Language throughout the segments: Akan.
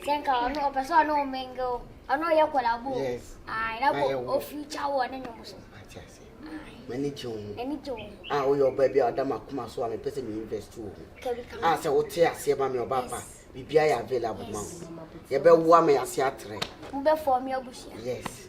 Sɛ nka ɔno ɔpɛ sɛ ɔne wo mingle, ɔne ɔyɛ collabo. Yes. Ayi na ko o feature wo ɔne nyom so. Ati ase. Mani gye wo. Mani gye wo. A woyɛ ɔbaa bi a ɔda ma kuma so a mepɛ sɛ me invest wo ho. Kabi kama. A sɛ wote aseɛ ma me ɔbaa pa. Biribi ayɛ available ma wo. Yɛbɛwoa ma yɛase atrɛ. Wobɛfɔɔ me abusua. Yes.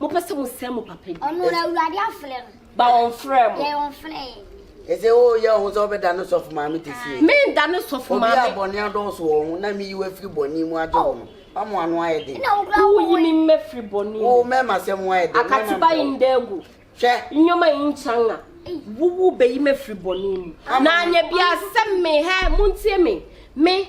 mopɛ sɛ mosɛe mo papa din. Ɔno na Awurade afrɛ no. Ba ɔmfrɛɛ mo. Yɛn ɔmfrɛɛ yɛn. Ɛsɛ woyɛ wo ho sɛ wobɛda ne sɔfo maame te sie. Menda ne sɔfo maame. Obi a bɔne adɔɔso wɔ ho na meyi wo afiri bɔne mu agye wo no, wama ano ayɛ den. Na wo kura wo yi me mma firi bɔne mu. Wo mɛma sɛ mo ayɛ den. Akatuba yi nda agu. Hwɛ. Nneɛma yi nkyanga. Wowu bɛyi me afiri bɔne mu. Na anyɛ bia sɛ me hɛ montie me me.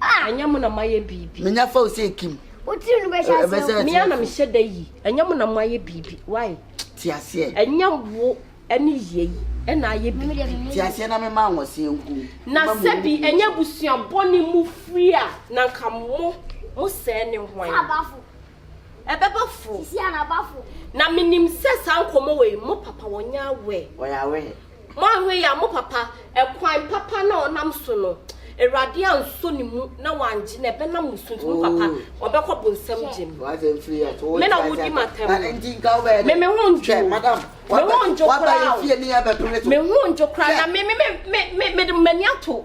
Ah! Ɛnyɛ mo na moayɛ biribi. Menya fa wo sɛ ekim. Wo tiri no bɛhyɛ aseɛ. Ɛbɛsɛ akyerɛ. Mea na mehyɛ da yi. Ɛnyɛ mo na moayɛ biribi. Why? Te aseɛ. Ɛnyɛ wo ɛne yie yi ɛna ayɛ biribi. Te aseɛ na mema anwɔseɛ nku. Na sɛbi ɛnyɛ abusua bɔne mu firi a na nka mo mo sɛɛ ne hwan? ɛbɛba fo. Sisi a na ba fo. Na me nim sɛ saa nkɔmɔ wei mo papa wɔ nyɛ awɛ. Wɔ yɛ awɛ. Mo ahwɛ yɛ a mo papa ɛkwan papa na ɔnam so no awurade ansɔ ne mu na wangye no ɛbɛ nam mo so nti mo papa ɔbɛkɔ bonsam gye no. Wɔ sɛ nfiri yɛ to. Me na wo di ma tɛm. Na nti nka wo bɛ yɛ. Me me ho njo. Madam. Me ho njo kura o. Waba yɛ fie ni yɛ bɛ pere to. Me ho njo kura na me me me me me de mani ato.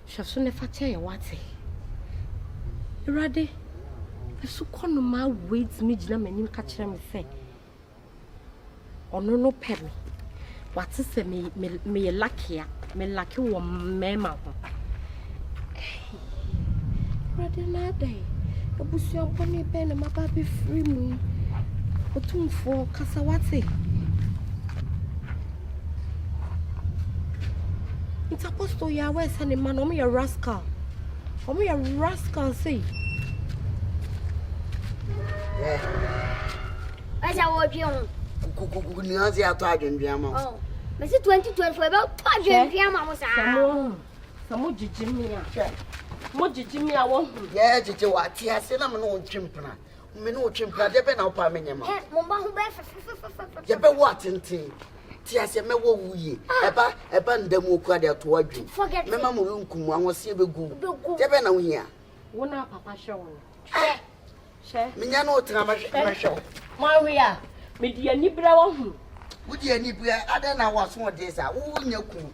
Hwɛ so na ɛfakyɛ yɛ wate. Awurade, asukɔ no maa wei tumi gyina m'anim ka kyerɛ me sɛ, ɔno no pɛ me. Wate sɛ me, me, meyɛ lakea, me lake wɔ mmarima ho. Hey, Awurade na adɛn? Abusua bɔne bɛn na maba abɛfiri mu yi? Otumfoɔ, kasa wate. nti apostle yɛ awɛ sɛ ne mma no wɔn yɛ rascal wɔn yɛ rascal sei. ɛsɛ wɔdwe ho. kukukuku ni ase ato adwendwen ama mo. Oh, mesi twenty twenty four ɛbɛ to adwendwen ama mo saa. sɛ mo sɛ mo gyigye mi a mo gyigye mi a wɔn ho. yɛ gyigye wa te ase na mo na wɔn twi mpena. Me ne wo twe mpena, deɛ bɛn na wopaa me nyɛ ma? Hɛ, mo mma ho bɛyɛ fɛfɛfɛfɛfɛ. Yɛbɛwɔ atenten. Te aseɛ mɛwɔ wo yie. Ah. Ɛba ɛba nda mu okura de ato adwene. Forget it. Mɛma mo renkum mo ahoɔseɛ bɛgu. Bɛgu. Deɛ bɛn na wohia? Wo na papa hwɛ wo no. Hwɛ. Hwɛ. Menya ne wo tena mɛhwɛ mɛhwɛ wo. Mo awe a, mede anibere ahunu. Wode anibere adɛn na w'asoɔden saa? Wonya kunu.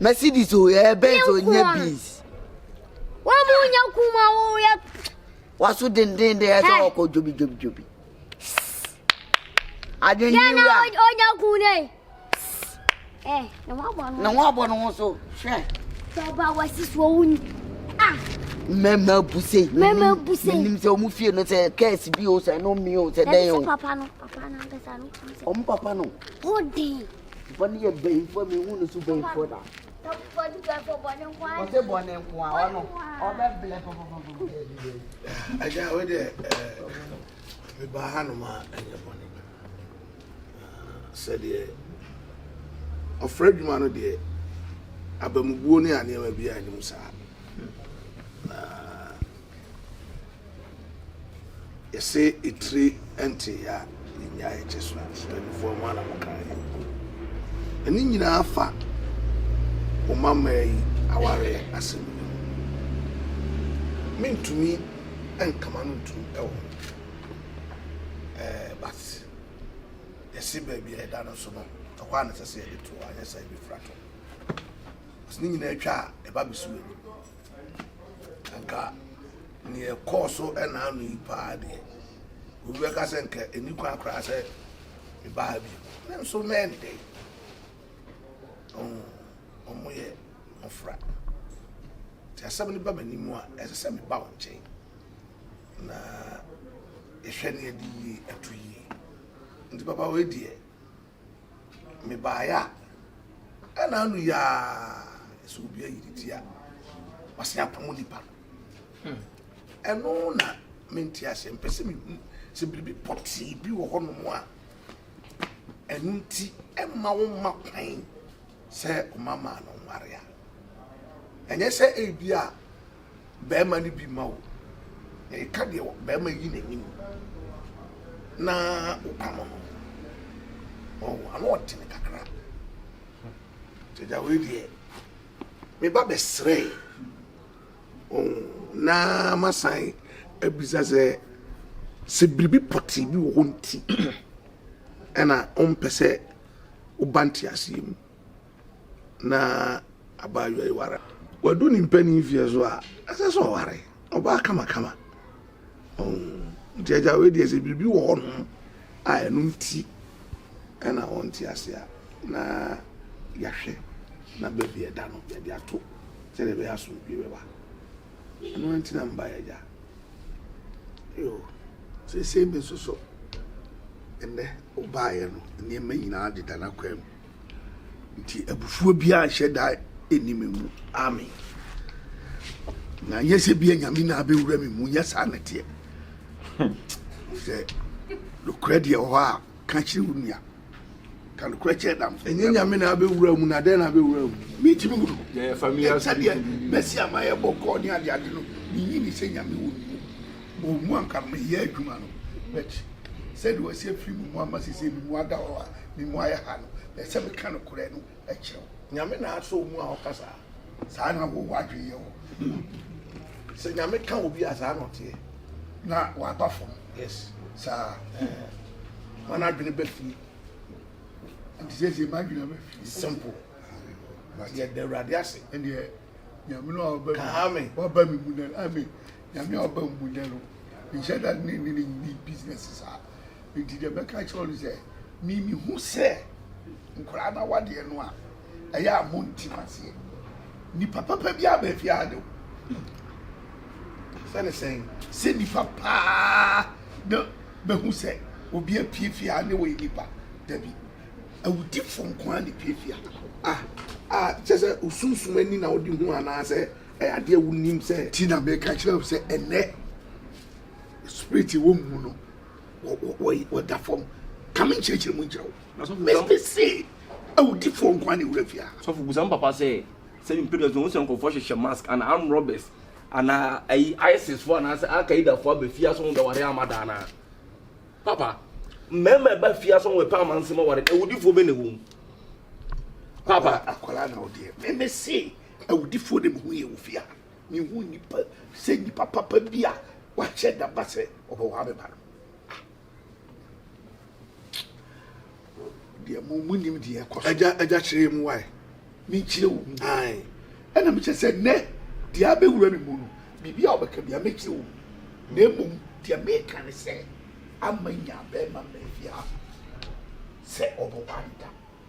Mercedes o ɛyɛ eh, Benz o nyɛ bees. Wọ́n mu nyɛ kuma o yɛ. Waso denden de ɛsɛ ɔkɔ jobi jobi jobi. Adwene yi wura. Yɛn na ɔnya kun ne. Ɛ na wɔn abɔ ne ho. Na wɔn abɔ ne ho so hwɛ. Tɔba wɔ sisi wɔn wuni. Ah. Mɛmɛ buse. Mɛmɛ buse. Mɛnim sɛ wɔn fie no sɛ kɛɛsi bi o sɛ ɛno mi o sɛ dɛn o. Ɛbi sɛ papa no papa no ankasa no. Wɔn papa no. Ɔden. Bɔne yɛ bɛnfoɔ me hu no so bɛnfoɔ da. Tɔpfoɔ di bɛnfoɔ bɔne nko ara. Ɔsɛ bɔne nko ara ɔno ɔbɛ blɛ pɔpɔpɔpɔ. Agya o de me ba ha no ma ɛnyɛ bɔne sɛdeɛ ɔfrɛ adwuma no deɛ abamubuo ne aneɛma bi a anim saa. Yɛse etire ɛntee a yɛnyaa yɛkyɛ so a mpaninfoɔ ho ana mo kaa yɛn mpo. Na ne nyinaa fa wo mammaa yi awareɛ asɛm no mu. Mentumi ɛnkama no ntom ɛwɔ ho. Ɛɛ but yɛse baabi a ɛda no nso no ɛhɔ a na ɛsɛ sɛ yɛde to anyɛ saa yɛbɛfiri ato. Cos ne nyinaa atwa a ɛba bɛsi w'anim. Anka nea ɛkɔɔ so ɛnaa no yi paa deɛ, obi bɛka sɛ nka ɛni kwan koraa sɛ meba ha bio. Nanso na ɛndɛ yi, wɔn yɛ mmɔfra. Nti asɛm no ba m'anim a, ɛsɛ sɛ meba wɔn nkyɛn na ɛhwɛ ne ɛde yie ɛto yie. Nti papa wei deɛ, Mebaeɛ a, ɛna ano yi ara sɛ obi ayi ne ti a, wɔasan apamo nipa no. Hmm. Ɛno na mente aseɛ, mpɛ sɛ mehu sɛ biribi pɔtee bi wɔ hɔnom a ɛno nti ɛma wo ma kwan sɛ ɔma maa no nware a ɛnyɛ sɛ ebi a barima no bi ma wo, na ɛka deɛ barima yi n'anim na wopam no ɔwɔ ano ɔtene kakra gyagya wei deɛ meba bɛsrɛe na masan abisa sɛ sɛ biribi pɔtee bi wɔ hɔ nti ɛna ɔmpɛ sɛ woba nteaseɛ mu Na abaayewa yi ware a, wadu ne mpanyin mfeɛ so a, ɛsɛ sɛ ɔware ɔbaa kamakama. Nti agya wei deɛ sɛ biribi wɔ hɔnom a ɛno nti ɛna ɔnte ase a, na yɛahwɛ na baabi ɛda no yɛde ato sɛdeɛ ɛbɛyɛ asomdwie bɛba. Ɛno nti na mbaeɛ agya. Yo, seesei me nso so ɛnɛ wobaeɛ no nneɛma nyinaa deda n'akwan mu. Nti abufuo biara nhyɛ da ɛni me mu. Amen. Na nyɛ sɛ bia nyame na abɛwura me mu, nyɛ saa na teɛ. Hmm. Sɛ nokorɛ deɛ hɔ a, ka kyerɛ wo nua. Ka nokorɛ kyerɛ dam. Ɛnyɛ nyame na abɛwura mu, na dɛn na abɛwura mu? Mentimi hu no. Sɛdeɛ mɛsi ama yɛbɔ kɔɔ ne adeade no, menyi ne sɛ nyame wɔ mu. Wɔn mu anka meyɛ adwuma no but sɛdeɛ wasi afiri me mu ama seisei me mu ada hɔ a me mu ayɛ ha no na ɛsɛ meka nokorɛ no kyerɛ wo. Nyame na asɔ wo mu a woka saa? Saa na wo w'adwene yɛ wo ho. Sɛ Nyame ka obi a saa na ɔteɛ. Na waba fam. Yes. Saa. Ɛɛh. Hwan adwene ba fie? Nti seisei m'adwene aba fie. Simple. But yɛda Awurade ase. Ɛndeɛ Nyame no a waba mu. Ka amen. Waba me mu nnɛ no amen. Nyame a ɔba mmu da no nhyɛ da ne ne ne nni business saa. Nti deɛ mɛka akyerɛ wo no sɛ, me mehu sɛ nkwadaa no awadeɛ no a ɛyɛ a monte mu aseɛ. Nipa papa bi aba fie ade o. Sɛne sɛn? Sɛ nipa paa na mahu sɛ obi apue fie a ne wɔyɛ nipa. Dabi, awudifo nko ara na epue fie a. Ah, ah, kyerɛ sɛ osunsum ani na wode hu anaasɛ Ɛyɛ adeɛ a wonim sɛ. Nti na meka kyerɛ wo sɛ ɛnnɛ spirit wɔ mu mu no wɔda fam ka me nkyerɛkyerɛ mu nkyerɛ wo mese awudifoɔ nkoa ne wura fie a sɔfo busa m papa sɛ sɛ mpɛdua so wo sɛ nkɔfoɔ hyehyɛ mask ana arm robbers ana ayi isis foɔ anaasɛ alkaida foɔ aba fie asɔ ho bɛware ama daa no papa mmarima ɛba fie asɔ ho ɛpɛ amanse ma ware awudifoɔ bɛ na ɛwɔ mu papa akwara na wodeɛ meme se Awudifoɔ na mehu yɛ wɔ fie a, mehu nipa sɛ nipa papa bi a wakyɛ da ba sɛ ɔbɛwaa me ba no. Deɛ mo mo nim deɛ ɛkɔ so. Agya agya kyerɛ mu wae. Menkyerɛ wo mu. Ae. Ɛna mekyerɛ sɛ nnɛ deɛ abɛwura me mu no, biribi a wobɛka bia mɛkyerɛ wo mu. Na mmom deɛ meka ne sɛ, ama nya bɛrima mmra fie ha sɛ ɔbɛwaa me da.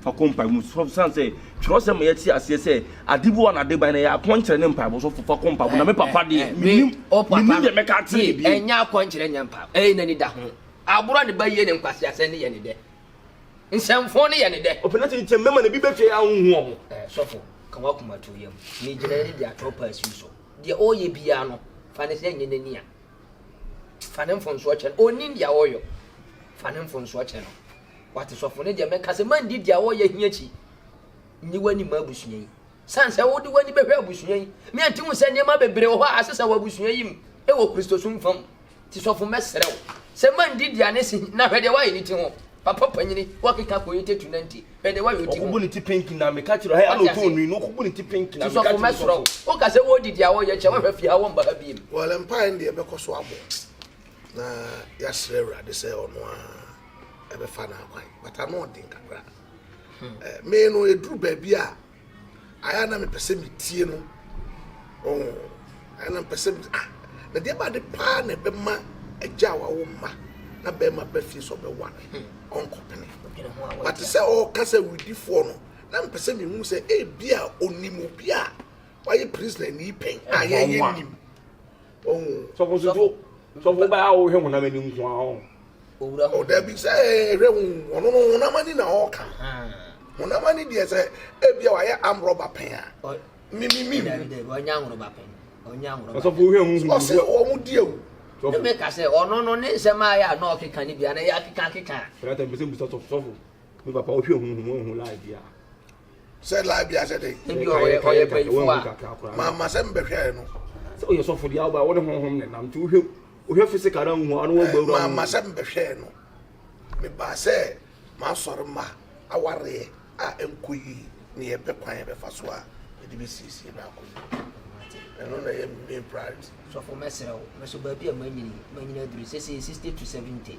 fa kɔ mpaebɔ mu sɔfo san sɛ twerɛsɛm ma yɛte aseɛ sɛ ade bi wɔ na ade ban na yɛ akɔnkyerɛ ne mpaebɔ sɔfo fa kɔ mpaebɔ na me papa deɛ menim menim deɛ mɛka akyerɛ ne bio ɛnyɛ akɔnkyerɛ nyɛ mpaebɔ ɛyɛ n'ani da ho aborɔ ne ba yie ne nkwaseasɛ ne yɛ ne dɛ nsɛmfo ne yɛ ne dɛ ɔpɛ na sɛ nkyɛn mɛma ne bi bɛfie a wonhu ɔmo sɔfo ka wakoma to yam ne gyina ne de atwerɛ pa asiw so deɛ ɔyɛ biara no fa ne sɛ nyɛ n'ani a fa ne mfonsoɔ kyɛ no ɔnim deɛ ɔyɔ fa ne mfonsoɔ kyɛ no Wate sɔfo ne deɛ mɛka sɛ mandi deɛ wɔyɛ hi akyi nyi w'ani ma abusua yi sane sɛ wode w'ani bɛhwɛ abusua yi ne anti hu sɛ nneɛma bebree wɔ hɔ a asesa wɔ abusua yi mu wɔ kristosom fam ti sɔfo mɛsrɛ wo sɛ mandi deɛ ne si na hwɛ deɛ woayɛ ne ti ho papa panyini wɔkeka kɔyɛ tatu na nti hwɛ deɛ woayɛ ɔti ho ɔkobu ne ti pinki na meka kyerɛ ha ɛna ɔtɔ onui na ɔkobu ne ti pinki na meka kyerɛ sɔfo woka sɛ wɔdi deɛ wɔyɛ kyɛ wɔhwɛ fie ha wɔmba ha biem wɔlɛ mpae no deɛ ɛbɛkɔ so abɔ na yɛasrɛ awurade sɛ ɔno a ɛbɛfa no akwan but ano ɔden kakra hmm. me no ɛduru baabi a ayɛ na mepɛ sɛ metie no ɛna mepɛ sɛ ah, na deɛ baade paa na ɛbɛma agya a wawo mma na bɛrima bɛ fie sɛ ɔbɛwa no ɔnkɔpene bate sɛ ɔka sɛ wedifoɔ no na mepɛ sɛ mehu sɛ ebi a ɔnim obi a wayɛ prisoner ni pɛn a yɛyɛ nim sɔfo so so sɔfo baa a ɔhwɛ honam ani nko ara ɔn. owura ho ɔdabi sɛ ɛhwɛ ho ɔno no honam ani na ɔka honam ani deɛ sɛ ebia wayɛ amrɔba pɛn a mimimi ɔnyɛ amrɔba pɛn ɔnyɛ amrɔba sɔfo hwɛ ho hu ɔsɛ wɔn di ewu ne mi ka sɛ ɔno no ne nsɛm a yɛ a na ɔkeka ne bia na yɛ akeka akeka. fɛrɛ atɛ mpɛsɛ mbusa sɔfo sɔfo mi papa ɔhwɛ ho hu ɔhu lai bia. Sɛ live bi asɛ dɛn. Ebi wɔ hɔ ɔyɛ panyinfo a. Maa ma sɛ mbɛhwɛɛ no. Sɛ ɔyɛ sɔfo deɛ ɔba ɔne honhom ne nam nti wohwɛ wohwɛ physical na nhu ano wɔ gbɛwura. Maa ma sɛ mbɛhwɛɛ no. Mebaa sɛ maa sɔre ma awareɛ a ɛnkɔ yie ne yɛ pɛ kwan yɛ bɛfa so a yɛde bɛsiesie no akɔ yie. Ɛno na ɛyɛ main priority. Sɔfo mɛsrɛ wo me so baabi a manyini manyini aduru sesei sixty to seventy.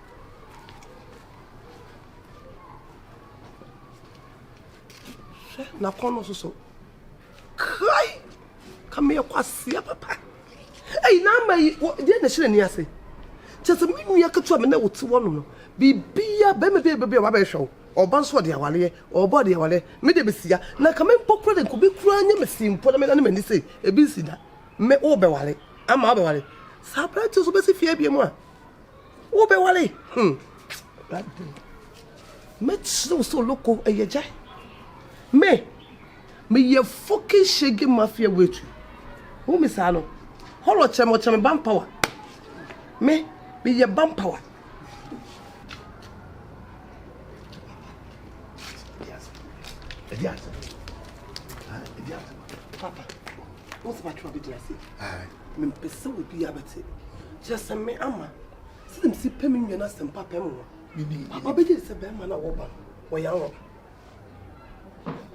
Hwɛ n'akɔnnɔ nso so. Kai! Ka meyɛ kwasea papa. Ei, n'ama yi, wɔ- deɛ na ɛhyɛ n'ani ase. Kyerɛ sɛ me nua ketewa me ne wo te hɔnom no, biribiara, bɛrima bi a bɛbi a wabɛhwɛ wo, ɔba nso ɔde awareɛ, ɔba ɔde awareɛ, me deɛ mesia. Na nka me mpo koraa de, nka obi koraa nyɛ me see mpo na me nane m'ani sei, ebi nsi da. Me, wobɛware, ama wabɛware. Saa aberanteɛ nso bɛsi fie abien mu a. wobɛware hmm awurade mɛkyerɛ wo sɛ oloko ɛyɛ gya me meyɛ fokin shege mafia wetu wo me saa no hɔlɔ kyerɛ me ɔkyerɛ me ban power me meyɛ ban power Papa, what's my trouble? Did I say? Mempɛ sɛ obiara bɛte. Kyerɛ sɛ me ama. Sɛdeɛ mesi pɛ me nua no asɛm papa mu no, papa bɛgye di sɛ bɛrima no a wɔba no, wɔyɛ anwɔba.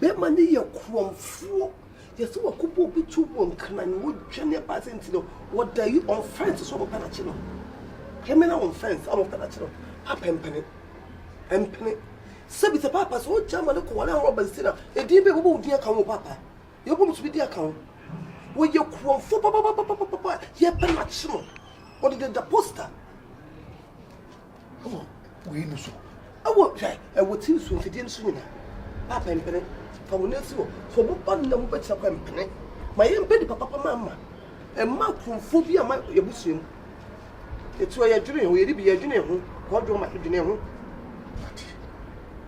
Bɛrima no yɛ korɔmfoɔ. Yɛsɛ wakɔbɔ obi tuo wɔ nkran na ɔdwane aba sɛ nti no, wɔda yi on fence so a wɔpɛ no akye no. Criminal on fence a wɔpɛ no akye no. Papa mpene. Mpene. Sɛbi sɛ papa sɛ ɔgya ma no kɔware anwɔba nti na, edin bɛn wɔbɔ wo din aka ho papa? Yɛbom tumi di aka ho. Wɔyɛ kurɔmfo papapapapapa a yɛpɛ no akye no. Wɔde deda posta wɔ wei no so. Ɛwɔ hwɛ ɛwɔ ti nsuo mfidie no so nyinaa. Paapa mpene fa wɔn asi hɔ. Fa wɔn ba no na wɔn bɛkyerɛ kwan mpene. Ma yɛmpɛ nipa papa ma ama. Ɛma kurɔmfo bi ama yɛbusua mu. Ɛti ɔ yɛdwene ho yɛde bi yɛdwene ho kɔdwom ma yɛdwene ho.